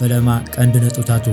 ፈለማ ቀንዲ ነጥብታቱ።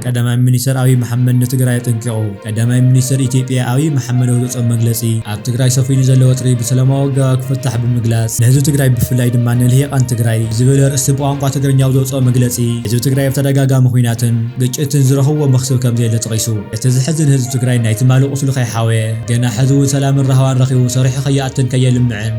ቀዳማይ ሚኒስተር ኣብይ መሓመድ ንትግራይ ኣጠንቂቑ። ቀዳማይ ሚኒስተር ኢትዮጵያ ኣብይ መሓመድ ኣብ ዘውጽኦ መግለጺ፣ ኣብ ትግራይ ሰፊኑ ዘሎ ወጥሪ ብሰላማዊ ኣገባብ ክፍታሕ ብምግላጽ፣ ንህዝቢ ትግራይ ብፍላይ ድማ ንልሂቓን ትግራይ ብዝብል ኣርእስቲ ብቋንቋ ትግርኛ ኣብ ዘውጽኦ መግለጺ፣ ህዝቢ ትግራይ ኣብ ተደጋጋሚ ኹናትን ግጭትን ዝረኽብዎ መኽስብ ከምዘየለ ጠቒሱ። እቲ ዘሕዝን ህዝቢ ትግራይ ናይ ትማሊ ቁስሉ ከይሓወየ፣ ገና ሕዚ እውን ሰላምን ራህዋን ረኺቡ ሰሪሑ ከይኣትን ከየልምዕን፣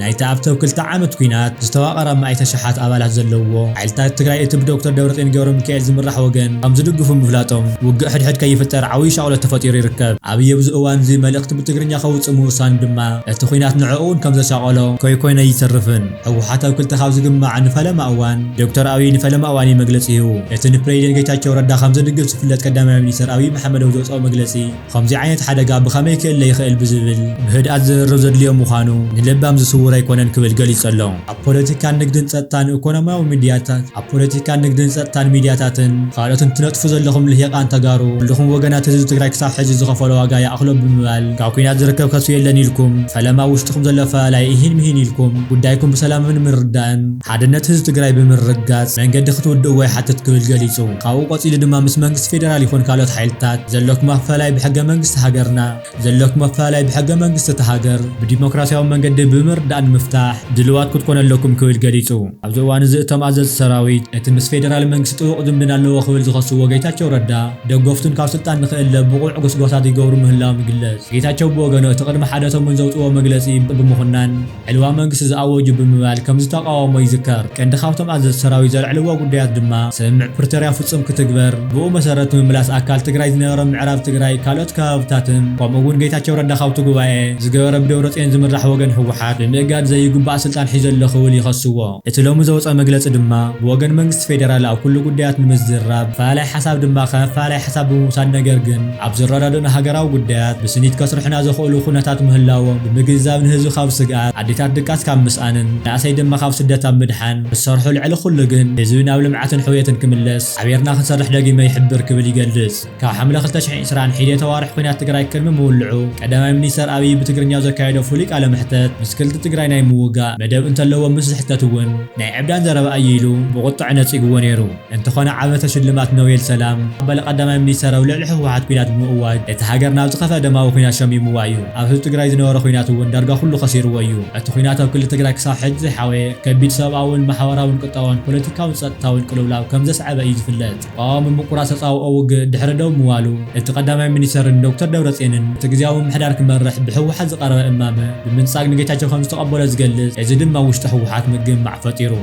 ናይቲ ኣብ ተብ ክልተ ዓመት ኲናት ዝተዋቐረ ኣማኢት ኣሽሓት ኣባላት ዘለዉዎ ሓይልታት ትግራይ እቲ ብዶክተር ደብረፅዮን ገብረሚካኤል ዝምራሕ ወገን ከም ዝድግፉ ምፍላጦም ውግእ ሕድሕድ ከይፍጠር ዓብዩ ሻቕሎት ተፈጢሩ ይርከብ። ኣብይ ኣብዚ እዋን እዚ መልእኽቲ ብትግርኛ ከውፅእ ምውሳኑ ድማ እቲ ዂናት ንዕኡ እውን ከም ዘሻቐሎ ከይኮነ ኣይተርፍን። ህወሓት ኣብ ክልተ ካብ ዝግማዕ ንፈለማ እዋን ዶክተር ኣብይ ንፈለማ እዋን እዩ መግለፂ ሂቡ። እቲ ንፕረዚደንት ጌታቸው ረዳ ከም ዝድግፍ ዝፍለጥ ቀዳማይ ሚኒስትር ኣብይ መሓመደዊ ዘውፀኦ መግለፂ፣ ኸምዚ ዓይነት ሓደጋ ብኸመይ ክእለ ይኽእል ብዝብል ብህድኣት ዝርርብ ዘድልዮ ምዃኑ ንለባም ዝስውር ኣይኮነን ክብል ገሊጹ ኣሎ። ኣብ ፖለቲካን ንግድን ጸጥታን ኢኮኖሚያዊ ሚድያታት ኣብ ፖለቲካን ንግድን ጸጥታን ሚድያታትን ኻልኦትን ትነጥፉ ዘለኹም ልሂቓን ተጋሩ ኩሉኹም ወገናት ህዝቢ ትግራይ ክሳብ ሕዚ ዝኸፈሎ ዋጋ ይኣኽሎ ብምባል ካብ ኩናት ዝርከብ ከስቢ የለን ኢልኩም ፈለማ ኣብ ውሽጥኹም ዘሎ ኣፈላላይ ኢሂን ምሂን ኢልኩም ጉዳይኩም ብሰላምምን ምርድዳእን ሓድነት ህዝቢ ትግራይ ብምርግጋፅ መንገዲ ክትውድእዎ ይሓትት ክብል ገሊፁ። ካብኡ ቀፂሉ ድማ ምስ መንግስቲ ፌደራል ይኹን ካልኦት ሓይልታት ዘለኩም ኣፈላላይ ብሕገ መንግስቲ ሃገርና ዘለኩም ኣፈላላይ ብሕገ መንግስቲ እታ ሃገር ብዲሞክራሲያዊ መንገዲ ብምርድዳእ ንምፍታሕ ድልዋት ክትኮኑ ኣለኩም ክብል ገሊፁ። ኣብዚ እዋን እዚ እቶም ኣዘዝቲ ሰራዊት እቲ ምስ ፌደራል መንግስቲ ጥቡቕ ዝምድና ኣለዎ ክብል ዝኸስዎ ጌታቸው ረዳ ደገፍቱን ካብ ስልጣን ንክእለ ብቑዕ ጎስጓሳት ይገብሩ ምህላዎም ይግለፅ። ጌታቸው ብወገኑ እቲ ቅድሚ ሓደሰሙን ዘውፅእዎ መግለፂ ብምኹናን ዕልዋ መንግስቲ ዝኣወጁ ብምባል ከምዝተቓወሞ ይዝከር። ቀንዲ ካብቶም ኣዘዝቲ ሰራዊት ዘልዕልዎ ጉዳያት ድማ ስምምዕ ፕሪቶርያ ፍፁም ክትግበር፣ ብኡ መሰረት ምምላስ ኣካል ትግራይ ዝነበሮም ምዕራብ ትግራይ ካልኦት ከባብታትን ከምኡ እውን ጌታቸው ረዳ ካብቲ ጉባኤ ዝገበረ ብደብረፅዮን ዝምራሕ ወገን ህወሓት ብምእጋድ ዘይጉባእ ስልጣን ሒዙ ኣሎ ክብል ይኸስዎ። እቲ ሎሚ ዘውጸ መግለጺ ድማ ብወገን መንግስቲ ፌደራል ኣብ ኩሉ ጉዳያት ንምዝርራብ ኣፈላላይ ሓሳብ ድማ ከም ኣፈላላይ ሓሳብ ብምውሳድ ነገር ግን ኣብ ዝረዳድኡና ሃገራዊ ጉዳያት ብስኒት ከስርሑና ዘኽእሉ ኩነታት ምህላዎም ብምግንዛብ ንህዝቢ ካብ ስግኣት ኣዴታት ድቃስ ካብ ምስኣንን መናእሰይ ድማ ካብ ስደት ኣብ ምድሓን ክሰርሑ ልዕሊ ኩሉ ግን ህዝቢ ናብ ልምዓትን ሕውየትን ክምለስ ሓቢርና ክንሰርሕ ደጊመ ይሕብር ክብል ይገልጽ። ካብ ሓምለ ክልተ ሽሕን ዕስራን ሒዴተ ኣዋርሕ ኹናት ትግራይ ቅድሚ ምውልዑ ቀዳማይ ሚኒስተር ኣብይ ብትግርኛ ዘካየዶ ፍሉይ ቃለ መሕተት ምስ ክልል ትግራይ ናይ ምውጋእ መደብ እንተለዎም ምስ ዝሕተት እውን ናይ ዕብዳን ዘረባ እዩ ኢሉ ብቑጠዐ ነጺግዎ ነይሩ። እንተኾነ ዓመተ ሽልማት ኖቤል ሰላም ኣባል ቀዳማይ ሚኒስተር ኣብ ልዕሊ ህወሓት ኹናት ብምእዋጅ ነቲ ሃገር ናብ ዝኸፍኣ ደማዊ ኹናት ሸሚምዋ እዩ። ኣብ ህዝቢ ትግራይ ዝነበረ ኹናት እውን ዳርጋ ኩሉ ከሲርዎ እዩ። እቲ ኹናት ኣብ ክልል ትግራይ ክሳብ ሕጂ ዘይሓወየ ከቢድ ሰብኣውን ማሕበራውን ቁጠባውን ፖለቲካውን ጸጥታውን ቅልውላው ከም ዘስዐበ እዩ ዝፍለጥ። ተቓዋሚ ምቁራጽ ተጻብኦ ውግእ ድሕሪ ደው ምባሉ፣ እቲ ቀዳማይ ሚኒስተርን ዶክተር ደብረጽዮንን እቲ ግዝያዊ ምምሕዳር ክመርሕ ብህወሓት ዝቐረበ እማመ ብምንጻግ ንጌታቸው ከምዝተቐበሎ ዝገልጽ፣ እዚ ድማ ኣብ ውሽጢ ህወሓት ምግምማዕ ፈጢሩ።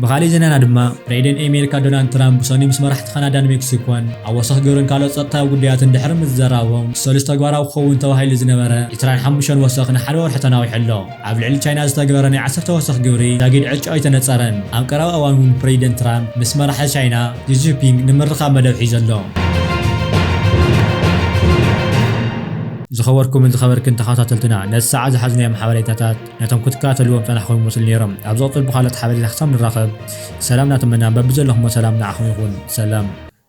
ብኻሊእ ዜናና ድማ፣ ፕሬኢደን ኤሜሪካ ዶናልድ ትራምፕ ብሰኑይ ምስ መራሕቲ ካናዳን ሜክሲኮን ኣወሰኽ ግብርን ካልኦት ጸጥታዊ ጉዳያትን ድሕሪ ምዝራቦም፣ ሰሉስ ተግባራዊ ክኸውን ተባሂሉ ዝነበረ ዕስራን ሓሙሽተን ወሰኽ ንሓደ ወርሒ ተናዊሑ ኣሎ። ኣብ ልዕሊ ቻይና ዝተግበረ ናይ ዓሰርተ ወሰኽ ግብሪ ዛጊድ ዕጫ ኣይተነጸረን። ኣብ ቀረባ እዋን እውን ፕረዚደንት ትራምፕ ምስ መራሒ ቻይና ዢ ጂንፒንግ ንምርኻብ መደብ ሒዙ ኣሎ። ዝኸበርኩምን ዝኸበርክን ተኸታተልትና ነዚ ሰዓት ዝሓዝናዮም ሓበሬታታት ነቶም ክትከታተልዎም ዝጸናሕኩም ይመስሉ ኔሮም። ኣብ ዝቕጽል ብኻልኦት ሓበሬታ ክሳብ ንራኸብ ሰላም እናተመና በብዘለኹሞ ሰላም ንዓኹም ይኹን። ሰላም።